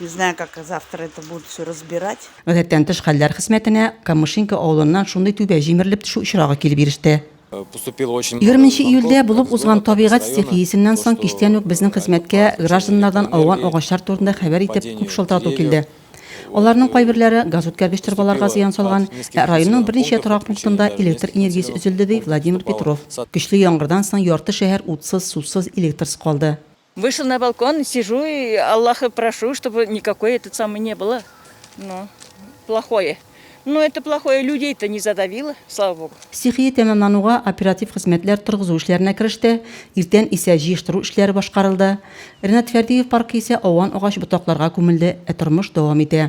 Не знаю, как завтра это будут все разбирать. Гадәттән тыш хәлләр хезмәтенә Камышинка авылыннан шундый түбә җимерелеп төшү очрагы килеп иреште. Э, поступил очень 20 июльдә булып узган табигать стихиясеннән соң кичтән үк безнең хезмәткә гражданнардан ауган агачлар турында хәбәр итеп күп шылтырату килде. Аларның кайберләре газ үткәргеч торбаларга зыян салган, ә районның берничә торак пунктында электр энергиясе өзелде, ди Владимир Петров. Көчле яңгырдан соң ярты шәһәр утсыз, сусыз, электрсыз калды. Вышел на балкон, сижу и Аллаха прошу, чтобы никакой этот самый не было. Ну, плохое. Ну, это плохое людей-то не задавило, слава богу. Стихия тәмамлануга оператив хезмәтләр торгызу эшләренә кереште, иртән исә җыештыру эшләре башкарылды. Ренат Фәрдиев паркы исә ауан агач ботакларга күмелде, ә тормыш дәвам итә.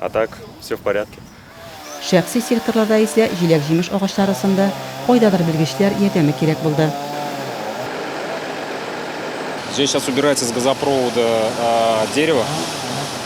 А так, все в порядке. Шәхси секторларда исә җиләк-җимеш агачлары сынды, кайдадыр белгечләр ярдәме кирәк булды. Здесь сейчас убирается с газопровода дерево,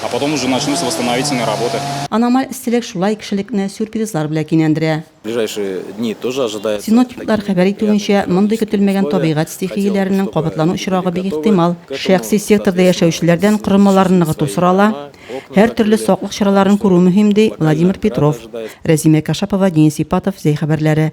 а потом уже начнутся восстановительные работы. Аномаль эсселек шулай кешелекне сюрпризлар белә кинәндерә. Синоптиклар хәбәр итүенчә, мондый көтелмәгән табигать стихияләренең кабатлану очрагы бик ихтимал. Шәхси секторда яшәүчеләрдән корылмаларны ныгыту сорала, һәртөрле саклык чараларын күрү мөһим, ди Владимир Петров. Рәзимә Кашапова, Денис Ипатов, Зәй хәбәрләре.